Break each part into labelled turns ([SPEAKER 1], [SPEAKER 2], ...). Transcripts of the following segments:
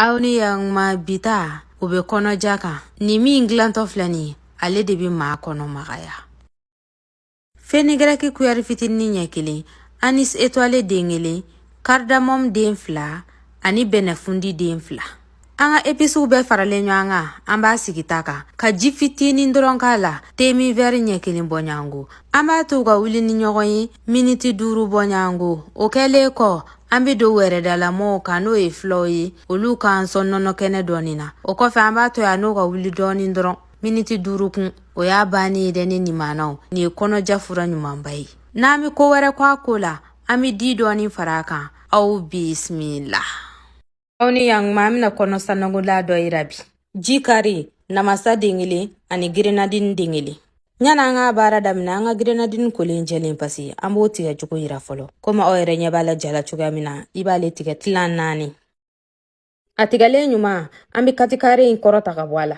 [SPEAKER 1] aw ni yan ma bi ta o bɛ kɔnɔja kan nin min dilantɔ filɛ nin ye ale de bɛ maa kɔnɔ magaya fenigɛrɛki kuyɛri fitinin ɲɛ kelen anis etwale den kelen karidamɔmu den fila ani bɛnɛfundi den fila an ka episiw bɛɛ faralen ɲɔgɔn kan an b'a sigi ta kan ka ji fitinin dɔrɔn k'a la teminwɛri ɲɛ kelen bɔ ɲɔgɔnko an b'a to ka wuli ni ɲɔgɔn ye miniti duuru bɔ ɲɔgɔnko o kɛlen kɔ an be don wɛrɛdalamɔw kan n'o ye filaw ye olu k'an sɔn nɔnɔkɛnɛ dɔɔni na o kɔfɛ an b'a to yan o ka wuli dɔɔni dɔrɔn miniti duuru kun o y'a bannen ye dɛ ne nimanaw nin ye kɔnɔja fura ɲumanba ye n'an be ko wɛrɛ ko a ko la an be di dɔɔni fara a kan aw bisimila Aw ni yan ma an bɛna kɔnɔ sanankolan dɔ yira bi ji kari namasa den kelen ani gerenadini den kelen a ye na an ka baara daminɛ an ka gerenadini kolen jɛlen pasiki an b'o tigɛ cogo yira fɔlɔ komi aw yɛrɛ ɲɛ b'a la ja la cogoya min na i b'ale tigɛ tilan naani a tigɛlen ɲuman an be katikare in kɔrɔta ka bɔ a la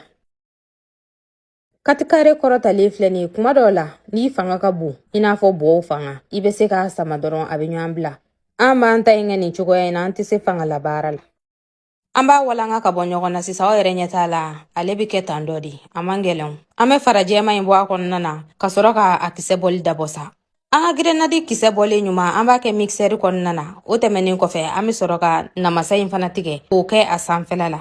[SPEAKER 1] katikare kɔrɔtalen filɛ nin ye kuma dɔw la n'i fanga ka bon i n'a fɔ bɔw fanga i bɛ se k'a sama dɔrɔn a bɛ ɲɔgɔn bila an b'an ta in kɛ nin cogoya in na an tɛ se fanga labaara la an b'a walanga ka bɔ ɲɔgɔn na sisan aw yɛrɛ ɲɛ t'a la ale bɛ kɛ tan dɔrɔn de a man gɛlɛn an bɛ fara jɛman in bɔ a kɔnɔna na ka sɔrɔ ka a kisɛ bɔli dabɔ sa an ka gerenadini kisɛ bɔlen ɲuman an b'a kɛ mikisɛri kɔnɔna na o tɛmɛnen kɔfɛ an bɛ sɔrɔ ka namasa in fana tigɛ k'o kɛ a sanfɛla la